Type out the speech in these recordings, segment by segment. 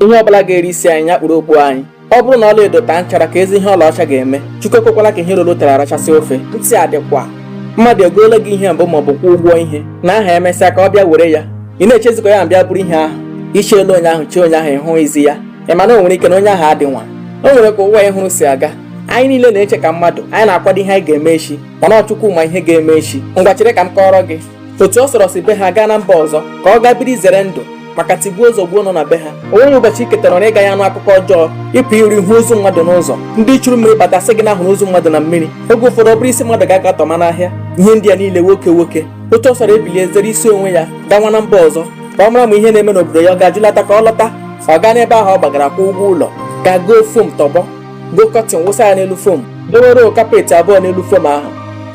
ihe ọ bụla ga-eri isi anyị nya kpuru okpu anyị ọ bụrụ na ọla edo taa nchara keezi ihe ọlaọcha ga-eme chukwu ekwekwala ka ihe roro ụtara arachasị ofe ntị a dịkwa mmadụ egoola gị ihe mbụ maọbụ kwụọ ụgwọ ihe n'aha emesịa ka ọ bịa were ya ị na-echezikwa ya mbịa buru ihe ahụ i cheela onye ahụ chee onye ahụ ị hụghịzi ya ị ma na o nwere ike na onye ahụ adị nwa o nwere ka ụwa ị hụrụ si aga anyị niile na-eche ka mmadụ anyị na-akwado ihe anyị ga-eme echi mana ọ chukwu ma ihe ga-eme echi ngwa chere ka m kọọrọ gị otu ọ sọrọ si be ha gaa na mba ọzọ ka ọ gaa biri zere ndụ maka tigbuo zọgbuo nọ na be ha o nweghị ụbọchị i tetara na ị gaghị anụ akụkọ ọjọọ ị pụ iro ị hụ ozu mmadụ n'ụzọ ndị churu mmiri bata sị gị na a hụrụ ozu mmadụ na mmiri oge ụfọdụ ọ bụrụ isi mmadụ ka a ga-atọma n'ahịa ihe ndị a niile nwoke nwoke otu ọ sọrọ ebilie zere isi onwe ya gawa na mba ọzọ ka ọ mara ma ihe na-eme n'obodo ya ọ ga-ajụlata ka ọ lọta ọ gaa n'ebe ahụ ọ gbagara kwụọ ụgwọ ụlọ gaa goo fom tọgbọ goo kọtin wụsa ya n'elu fom dowere kapeti abụọ n'elu fom ahụ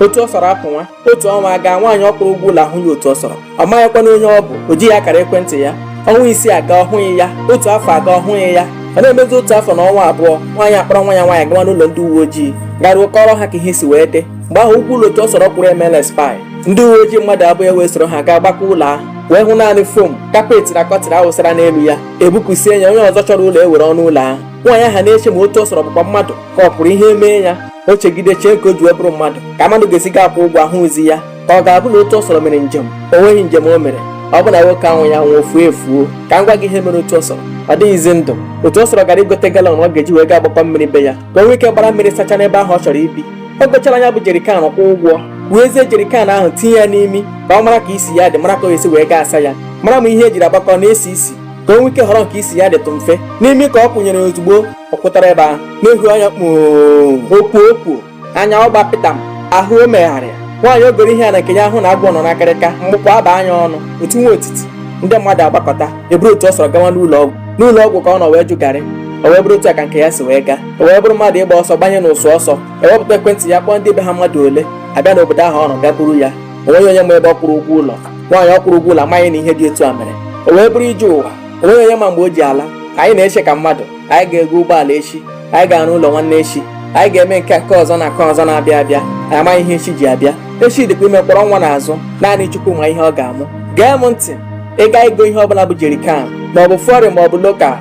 otu ọ sọrọ apụwa otu ọnwa aga nwaanyị ọ kwụrụ ụgwọ ụlọ ahụghị otu ọ sọrọ ọ maghịkwanụ onye ọ bụ o jighị akara ekwentị ya ọnwa isii aga ọ hụghị ya otu afọ aga ọ hụghị ya ọ na-emezi otu afọ na ọnwa abụọ nwaanyị akpọrọ nwa ya nwaanyị gawa n'ụlọ ndị uwe ojii garuo kọọrọ ha ka ihe si wee dị mgbe ahụ ụgwọ ụlọ otu ọ sọrọ kwụrụ emeela expire ndị uwe ojii mmadụ abụọ wee soro ha gaa gbakaa ụlọ ahụ wee hụ naanị fom kapeti na kọtịn a wụsara n'elu ya e bupụsịa ya onye ọzọ chọrọ ụlọ ewere ọnụ ụlọ ahụ nwaanyị ahụ ana-eche ma otu ọ sọrọ bụkwa mmadụ ka ọ pụrụ ihe mee ya o chegide chee ka o ji wee bụrụ mmadụ ka mmadụ ga-esi gaa kwụọ ụgwọ a hụghịzi ya ka ọ ga-abụ na otu ọ sọrọ mere njem o nweghị njem o mere ọ bụ na nwoke anwụghị anwụ o fuo efuo ka m gwa gị ihe mere otu ọ sọrọ ọ dịghịzi ndụ otu ọ sọrọ gara igote galọn ọ ga-eji wee gaa gbakọ mmiri be ya ka o nwee ike gbara mmiri sacha n'ebe ahụ ọ chọrọ ibi o gochara nya bụ jerikan kwụọ ụgwọ weezie jerikan ahụ tinye ya n'imi ka ọ mara ka isi ya dị mara ka o si wee gaa saa ya mara ma ihe e jiri agbakọ na-esi isi ka o nwee ike họrọ nke isi ya dịtụ mfe n'imi ka ọ kwụnyere ozugbo ọ kwụtara ebe ahụ na-ehu anya kpoo okwu okwu anya ọ gbapịta m ahụ o megharịa nwaanyị o goro ihe n'aka ya ahụ na agwọ nọ n'akịrịka mkpu akwa abaa nya ọnụ o tiwa otiti ndị mmadụ agbakọta eburu otu ọ sọrọ gawa n'ụlọ ọgwụ n'ụlọ ọgwụ ka ọ nọ wee jụ garị o wee bụrụ otu a ka nke ya si wee gaa o wee bụrụ mmadụ ịgba ọsọ gbanye n'ụsụ ọsọ e wepụta ekwentị ya kpọọ ndị be ha mmadụ ole abịa n'obodo ahụ ọ nọ gaa buru ya o nweghị onye ma ebe ọ kwụrụ ụgwọ ụlọ nwaanyị ọ kwụrụ ụgwọ ụlọ amaghị na ihe dị otu a mere o wee bụrụ ije ụwa o nweghị onye ma mgbe o ji ala anyị na-eche ka mmadụ anyị ga-ego ụgbọala echi anyị ga-arụ ụlọ nwanne echi anyị ga-eme nke nke ọzọ na nke ọzọ na-abịa abịa anyị amaghị ihe echi ji abịa echi dịkwa ime kwọrọ nwa n'azụ naanị chukwu ma ihe ọ ga-amụ gee m ntị ị gaa igo ihe ọbụla bụ jerikan ma ọ bụ fọrịn ma ọ bụ lokal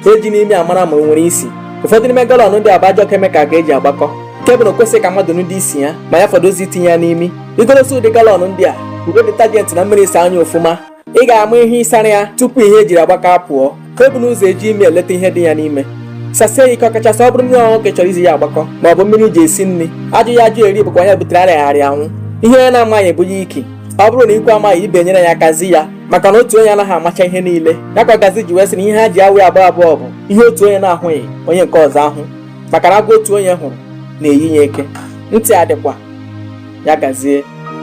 ejina imi amara ma o nwere isi ụfọdụ n'ime galọn ndị a bụ ajọ kemikal ka e ji agbakọ nke bụ na o kwesịghị ka mmadụ nụdị isi ya ma ya fọdụzi itinye ya n'imi igolosi ụdị galọn ndị a i wee detajenti na mmiri saa nya ọfụma ị ga-ama ihe ị sara ya tupu ihe ejiri agbakọ apụọ ka ọ bụ n'ụzọ eji ime eleta ihe dị ya n'ime sasie ya ike ọkachasị ọ bụrụ mmiri ọṅụṅụ ka a chọrọ iji ya agbakọ ma ọ bụ mmiri eji esi nri ajụghị ajụ eri bụkwa onye butere arịaghị arịa anwụ ihe onye na-amaghị bụ ya iki ọ bụrụ na ikwu amaghị ibe enyere ya aka zi ya maka na otu onye anaghị amacha ihe niile ya ka gazi ji wee sị na ihe ha ji awụ abụọ abụọ bụ ihe otu onye na-ahụghị onye nke ọzọ ahụ maka na agwọ otu onye hụrụ na-eyi ya eke ntị adịkwa ya gazie